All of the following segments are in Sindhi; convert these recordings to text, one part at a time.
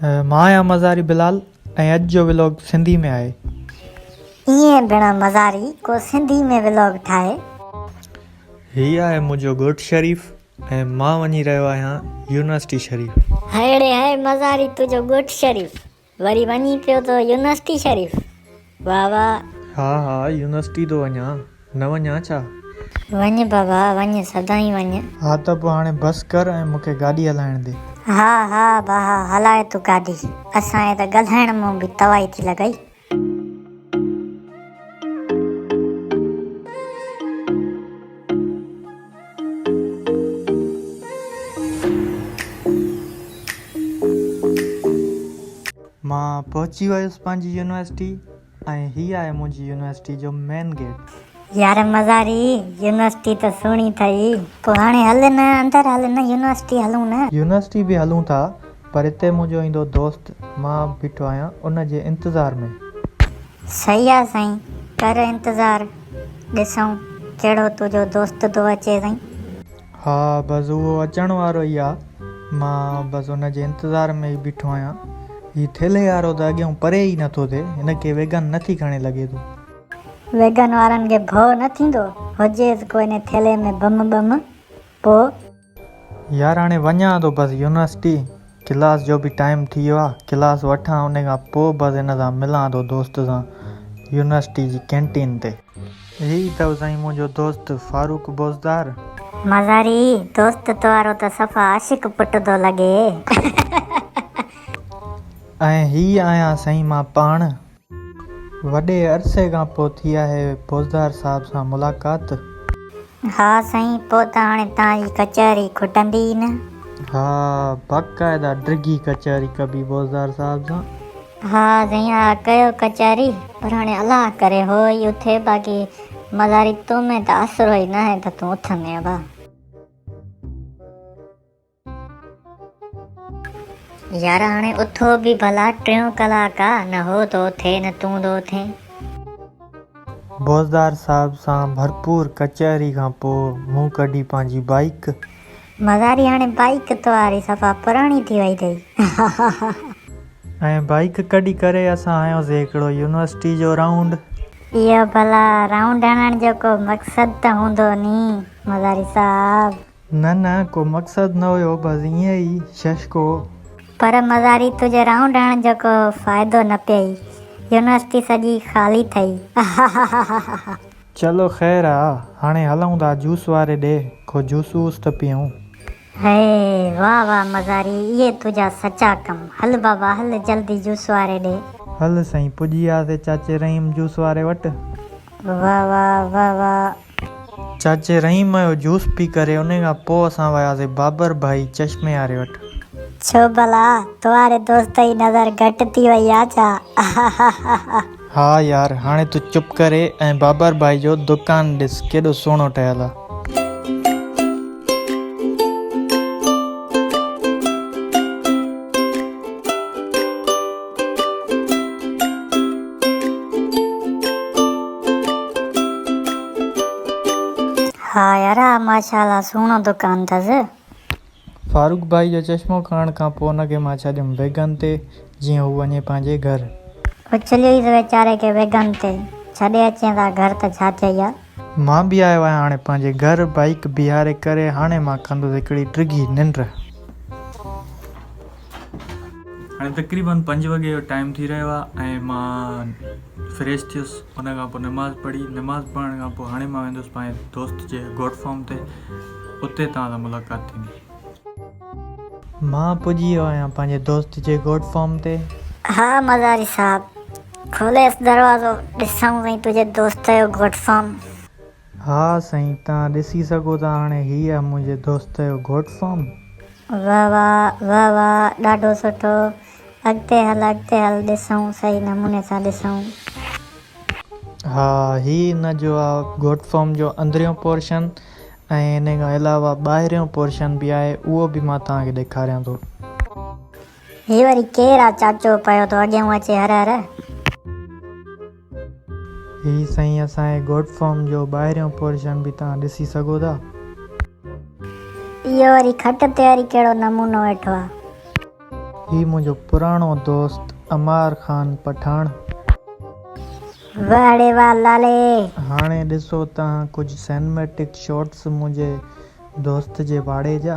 مان آهيان مزاري بلال ۽ اڄ جو ولاگ سنڌي ۾ آهي. ايئن ڀيڻ مزاري ڪو سنڌي ۾ ولاگ ٺاهي. هي آهي منهنجو ڳوٺ شريف ۽ مان وڃي رهيو آهيان يونيورسٽي شريف. هائڙي هاء مزاري تنهنجو ڳوٺ شريف. وري وڃي پيو ٿو يونيورسٽي شريف واھ واھ. ھا ھا يونيورسٽي ٿو وڃان نه وڃان ڇا. وڃ بابا وڃ سدائين وڃ. ھا ته پوء ھاڻي بس ڪر ۽ مون کي گاڏي ھلائڻ ڏي. ھا ھا باھا ھلاء تون گاڏي. اسان جي ته ڳالھائڻ مان به توائي ٿي لڳئي. مان پهچي ويس پنهنجي يونيورسٽي ۽ هي آهي منهنجي يونيورسٽي جو مين گيٽ. يار مزاري يونيورسٽي ته سهڻي ٺهي. پوء هاڻي هل نه اندر هل نه يونيورسٽي هلون نه. يونيورسٽي به هلون ٿا پر هتي منهنجو ايندو دوست مان بيٺو آهيان ان جي انتظار ۾. صحيح آ سائين ڪر انتظار ڏسون ڪهڙو تنهنجو دوست ٿو اچي سائين. ها بس اهو اچڻ وارو ئي آ مان بس ان جي انتظار ۾ ئي بيٺو آهيان هي ٿيلهي وارو ته اڳيئون پري ئي نٿو ٿئي هن کي ويگن نٿي کڻي لڳي ٿو. ويگن وارن کي ڀؤ نه ٿيندو هجيس ڪو انهي ٿيلهي ۾ بم ٻم پوء. يار هاڻي وڃان ٿو بس يونيورسٽي ڪلاس جو به ٽائيم ٿي ويو آهي ڪلاس وٺان انهي کان پوء بس هن سان ملان ٿو دوست سان يونيورسٽي جي ڪينٽين تي. هي اٿو سائين منهنجو دوست فاروق بوزدار. مزاري دوست توهارو ته صفا عاشق پٽ ٿو لڳي. ۽ هي آهيان سائين مان پاڻ. وڏي عرصي کان پوء ٿي آهي پوزدار صاحب سان ملاقات. ها سائين پوء ته هاڻي توهان جي ڪچهري کٽندي ئي نه. ها باقاعده ڊگهي ڪچهري ڪبي پوزدار صاحب سان. ها سائين ها ڪيو ڪچهري پر هاڻي الله ڪري هو ئي اٿي باقي مزاري تو ۾ ته آسرو ئي ناهي ته تون اٿندين ڀا. يار هاڻي اٿو به ڀلا ٽيون ڪلاڪ آ نه هو تو ٿي نه تون دو ٿين. بوزدار صاحب سان ڀرپور ڪچهري کان پوء مون ڪڍي پنهنجي بائيڪ. مزاري هاڻي بائيڪ توهاري صفا پراڻي ٿي وئي اٿئي هاهاها. ۽ بائيڪ ڪڍي ڪري اسان هنيوسي هڪڙو يونيورسٽي جو رائونڊ. اهو ڀلا رائونڊ هڻڻ جو ڪو مقصد ته هوندو ني مزاري صاحب. نه نه ڪو مقصد نه هيو بس ائين ئي ششڪو. پر مزاري تنهنجي رائونڊ هڻڻ جو ڪو فائدو نه پيئي يونيورسٽي سڄي خالي ٿئي اهاهاهاهاها. چلو خير آ هاڻي هلون ٿا جوس واري ڏي ڪو جوس ووس ته پيئون. هي واه واه مزاري اهي تنهنجا سچا ڪم هل بابا هل جلدي جوس واري ڏي. هل سائين پڄي وياسي چاچي رحيم جوس واري وٽ. واه واه واه واه چاچي رحيم جو جوس پي ڪري انهي کان پوء اسان وياسي بابر ڀائي چشمي واري وٽ. ڇو ڀلا توهاري دوست جي نظر گهٽ ٿي وئي آ ڇا اههههههه. ها يار هاڻي تون چپ ڪري ۽ بابر ڀائي جو دوڪان ڏس ڪيڏو سهڻو ٺهيل آ. ها يارا ماشاءالله سهڻو دڪان اٿس. فاروق ڀائي جو چشمو کڻڻ کان پوء ان کي مان ڇڏيم ويگن تي جيئن هو وڃي پنهنجي گهر. اڇليئيس ويچاري کي ويگن تي ڇڏي اچين ٿا گهر ته ڇا چئي ها. مان به آيو آهيان هاڻي پنهنجي گهر بائيڪ بيهاري ڪري هاڻي مان ڪندس هڪڙي ڊگهي ننڊ. هاڻي تقريبن پنج وڳي جو ٽائيم ٿي رهيو آهي ۽ مان فريش ٿيس ان کان پوء نماز پڙهي نماز پڙهڻ کان پوء هاڻي مان ويندس پنهنجي دوست جي گوٽ فارم تي اتي توهان سان ملاقات ٿيندي. مان پڄي ويو آهيان پنهنجي دوست جي گوڏ فارم تي. ها مزاري صاحب. کوليس دروازو ڏسون ۽ تنهنجي دوست جو گوڏ فارم. ها سائين توهان ڏسي سگهو ٿا هاڻي هي آهي منهنجي دوست جو گوڏ فارم. واه واه واه واه ڏاڍو سٺو اڳتي هل اڳتي هل ڏسون صحيح نموني سان ڏسون. ها هي ان جو آهي گوڏ فارم جو اندريون پورشن ۽ انهي کان علاوه ٻاهريون پورشن به آهي اهو به مان توهان کي ڏيکاريان ٿو. هي وري ڪير آ چاچو پيو ٿو اڳيئون اچي هر هر. هي سائين اسان جي گوٽ فارم جو ٻاهريون پورشن به توهان ڏسي سگهو ٿا. اهو وري کٽ تي وري ڪهڙو نمونو ويٺو آ. هي منهنجو پراڻو دوست عمار خان پٺاڻ. وهڙي وال لالي. هاڻي ڏسو تهان ڪجهه سينميٽڪ شاٽس منهنجي دوست جي واڙي جا.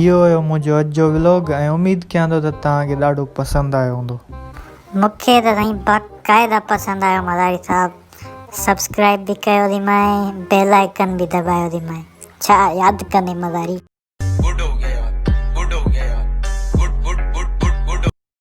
اهو هيو منهنجو اڄ جو ولاگ ۽ اميد ڪيان ٿو ته توهان کي ڏاڍو پسند آيو هوندو. مونکي ته سائين باقاعده پسند آيو مزاري صاحب سبسڪرائب به ڪيو ٿي مائين بيل آئيڪن به دٻايو ٿي مائين ڇا ياد ڪندي مزاري.